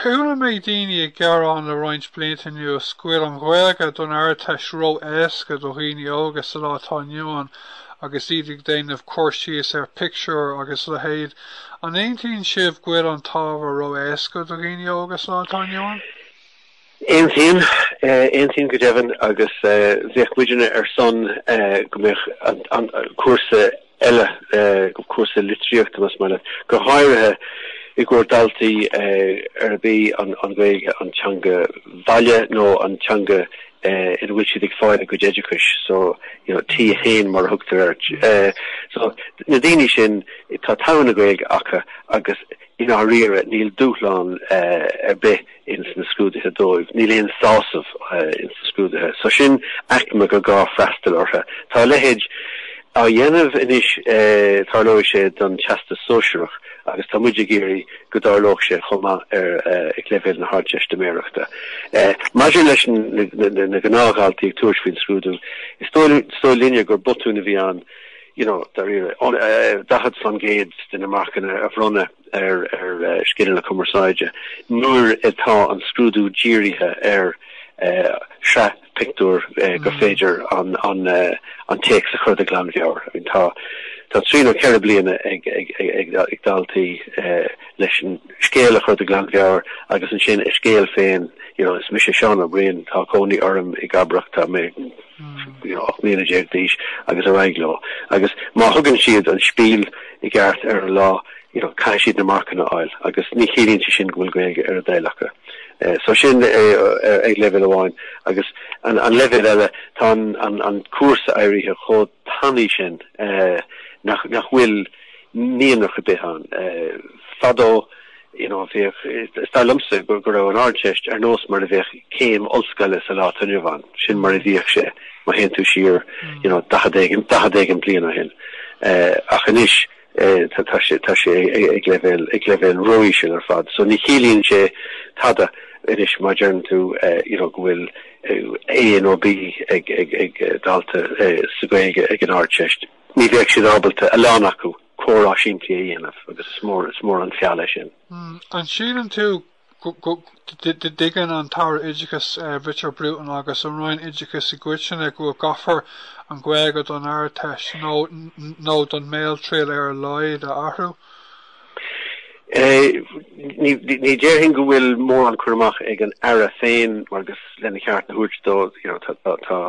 Chuala mé daoine ag gearán le roinnt blianta anuas go bhfuil an Ghaeilge don Ardteist ró-éasca do dhaoine óga sa lá atá inniu ann agus iad ag déanamh cur síos ar phictiúir agus a leithéid. An aontaíonn sibh go bhfuil an t-ábhar ró-éasca do dhaoine óga sa lá atá inniu ann? Aontaím, aontaím go deimhin agus bheadh muidinne ar son go mbeadh an cúrsa eile, cúrsa litríochta más maith leat, go háirithe i gcomhair daltaí arb í an Ghaeilge an teanga bhaile nó an teanga ina bhfuil siad ag fáil a gcuid oideachais, so you know T1 mar a thugtar air. So na daoine sin tá togha na Gaeilge acu agus i ndáiríre níl dúshlán ar bith. ins na scrúduithe dóibh. Níl aon sásamh ins na scrúduithe. So sin aicme gur gá freastal ortha. Tá a leithéid á dhéanamh anois tarlóidh sé don Teastas Sóisearach agus tá muid ag iarraidh go dtarlódh sé chomh maith ar ag leibhéal na hArdteistiméireachta. Maidir leis na gnáthdhaltaí ag tabhairt faoin scrúdú, is dóigh linne gur botún a bhí ann, you know, dáiríre, 40% de na marcanna a bhronnadh. ar scil na cumarsáide nuair atá an scrúdú dírithe ar shraith pictiúr gur féidir an téacs a chur de ghlanmheabhair. Tá trí nó ceithre bliana ag daltaí leis an scéal a chur de ghlanmheabhair agus ansin a scéal féin, you know, is mise Seán Ó Briain, tá cónaí orm i gCabrach, tá mé. ocht mbliana déag d'aois agus ar aghaidh leo agus má thugann siad an spiel i gceart ar an lá you know caithfidh siad na marcanna a fháil agus ní chiallaíonn sé sin go bhfuil Gaeilge ar a dtoil acu. Eh so sin é ag leibhéal amháin agus an an leibhéal eile tá an an an cúrsa éirithe chomh tanaí sin eh nach nach bhfuil mianach ar bith ann. Eh fadó You know, b'fhacthas liomsa go raibh an Ardteist ar nós mar a bheadh céim ollscoile sa lá atá inniu ann. Sin mar a bhíodh sé, má théann tú siar, you know, daichead éigin, daichead éigin bliain ó shin. Ach anois, tá sé, tá sé ag leibhéal, ag leibhéal ró-íseal ar fad. So ní chiallaíonn sé tada anois má deireann tú, you know, go bhfuil A nó B ag, ag, ag dalta sa Ghaeilge ag an Ardteist. Ní bheadh siad ábalta, a lán acu. comhrá simplí a dhéanamh agus is mór is mór an feall é sin. An síleann tú go dtuigeann an tAire Oideachais Richard Bruton agus an Roinn Oideachais i gcoitinne go bhfuil go gcaithfear an Ghaeilge don Ardteist nó an Bhéaltriail ar a laghad a athrú? Ní déarfainn go bhfuil mórán cur amach ag an Aire féin mar agus lena cheart a thabhairt dó tá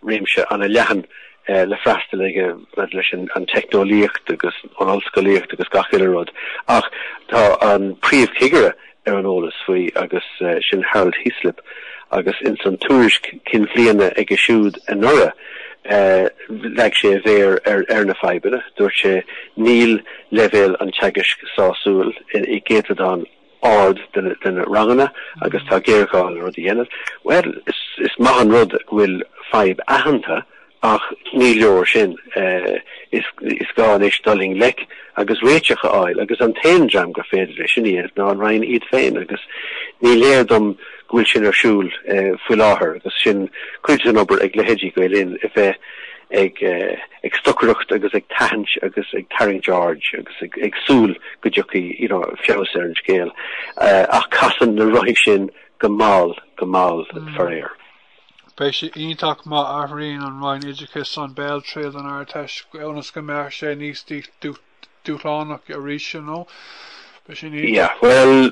réimse ana leathan le freastal aici maidir leis an teicneolaíocht agus an ollscolaíocht agus gach uile rud ach tá an príomhchigire ar an eolas faoi agus sin Harold Hislop agus ins an tuairisc cinn bhliana aige siúd anuraidh leag sé a mhéar ar na fadhbanna. Dúirt sé, Níl leibhéal an teagaisc sásúil i gcéatadán ard de na ranganna agus tá géarghá le rud a dhéanamh. Bhuel, is maith an rud go bhfuil fadhb aitheanta ach ní leor sin. Is gá anois dul i ngleic agus réiteach a fháil agus an t-aon dream gur féidir leis sin a dhéanamh ná an Roinn iad féin agus ní léir dom, go bhfuil sin ar siúl faoi láthair agus sin cuid den obair ag leithéidí Gael Linn a bheith ag ag stocaireacht agus ag tathaint agus ag tarraingt aird agus ag ag súil go dtiocfaidh you know feabhas ar an scéal ach casann na rothaí sin go mall go mall faraor. Beidh sé iontach má athraíonn an Roinn Oideachais an bhéaltriail san Ardteist ionas go mbeadh sé níos dúshlánach arís you know beidh sin iontach. Yeah well.